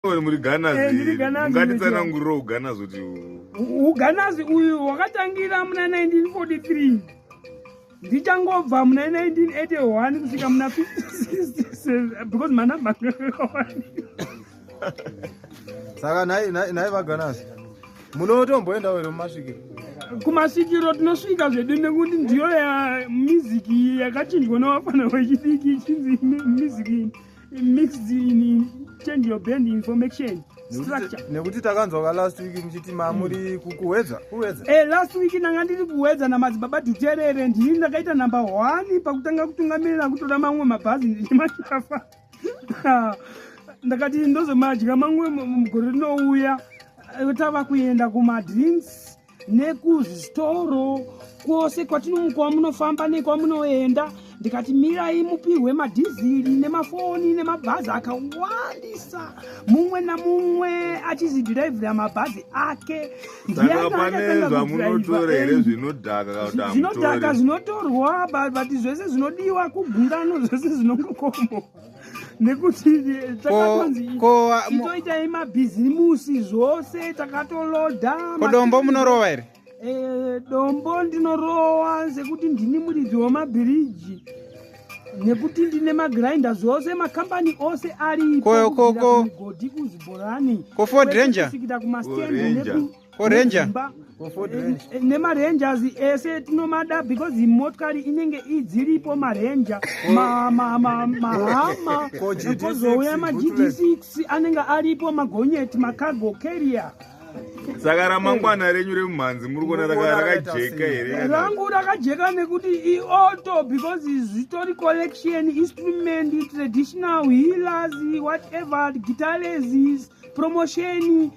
muri ganaz ungatitsanangurira uganaz kuti uganaz uyu wakatangira muna 1943 ndichangobva muna 1981 kusvika muna 56 because manamba saka nhai vaganaz munotomboendawo here mumasvikiro kumasvikiro tinosvika zvedu nekuti ndiyo miziki yakachinjwa navafana vechidiki ichinzi miziki mixed in change your brand information structure nekuti takanzwa ka last week muchiti mamuri kukuwedza kuwedza eh last week ndanga ndiri kuwedza na madzibaba duterere ndini ndakaita number 1 pakutanga kutungamirira kutora mamwe mabhazi ndichimashafa ndakati ndozomadya mamwe mugore rinouya eh, tava kuenda kuma drinks nekuzvitoro kwose kwatinomu kwamunofamba nekwamunoenda ndikati mirai mupihwe madhiziri nemafoni nemabhazi akawandisa mumwe namumwe achizidhiraivhira mabhazi ake zvinodhaka zvinotorwa but zvese zvinodiwa kugungano zvese zvinongokombo nekuti takatonzi itoitai mabhizimusi zvose takatoloda kodombo munorova here eh, dombo ndinorowa sekuti ndini muridzi wemabhiriji nekuti ndine magrinda zvose makambani ose ariigodhi kuzibhorani kofodrenja kumastendi ko ranger nemarangers ese tinomada because motokari inenge idziripo maranger mahama kozouya magd 6 anenge aripo magonyeti macargo carrier saka ramangwana renyu remumhanzi muri kuona rakajeka here rangu rakajeka nekuti ioto because zvitori collection instrument traditional healers whatever guitars promotion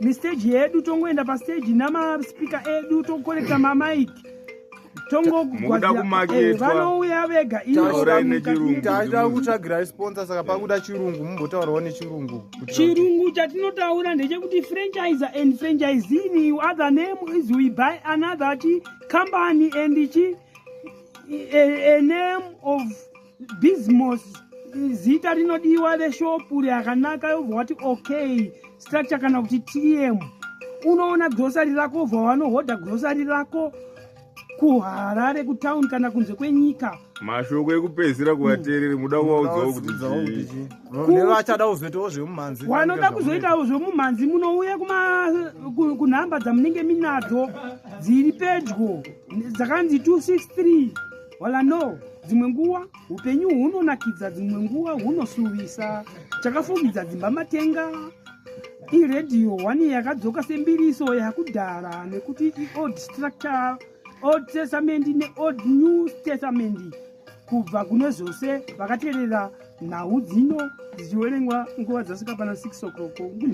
mistage yedu tongoenda pastage namaspeaker edu tokorekta mamaik tongokuavanouya eh, vega iyotaida kutsvagirai sponsor saka pakuda chirungu mumbotaurawo nechirungu chirungu chatinotaura ndechekuti franchise and franchise in other name is we buy another chi company and chi a, a name of Bismos zita rinodiwa reshopu rakanaka yobva wati okay structure kana kuti tm unoona grosari rako wobva wanohodha grosari rako kuharare kutown kana kunze kwenyika mashoko ekupedzisira kuvateereri muda kuvaudzawo kuti vachada kuzoitawo zvemumhanzi wanoda kuzoitawo zvemumhanzi munouya kunhamba dzamunenge minadzo dziri pedyo dzakanzi 263 Wala no, dzimwe nguwa upenyu hunonakidza, dzimwe nguwa hunosuvisa. Chakafugidza dzimba matenga iredhiyo wani yakadzoka sembiriso yakudhara nekuti iold structure old testament neold new testament kubva kune zvose vakateerera nhau dzino dzichiverengwa nguva dzasvika pana 6 o'clock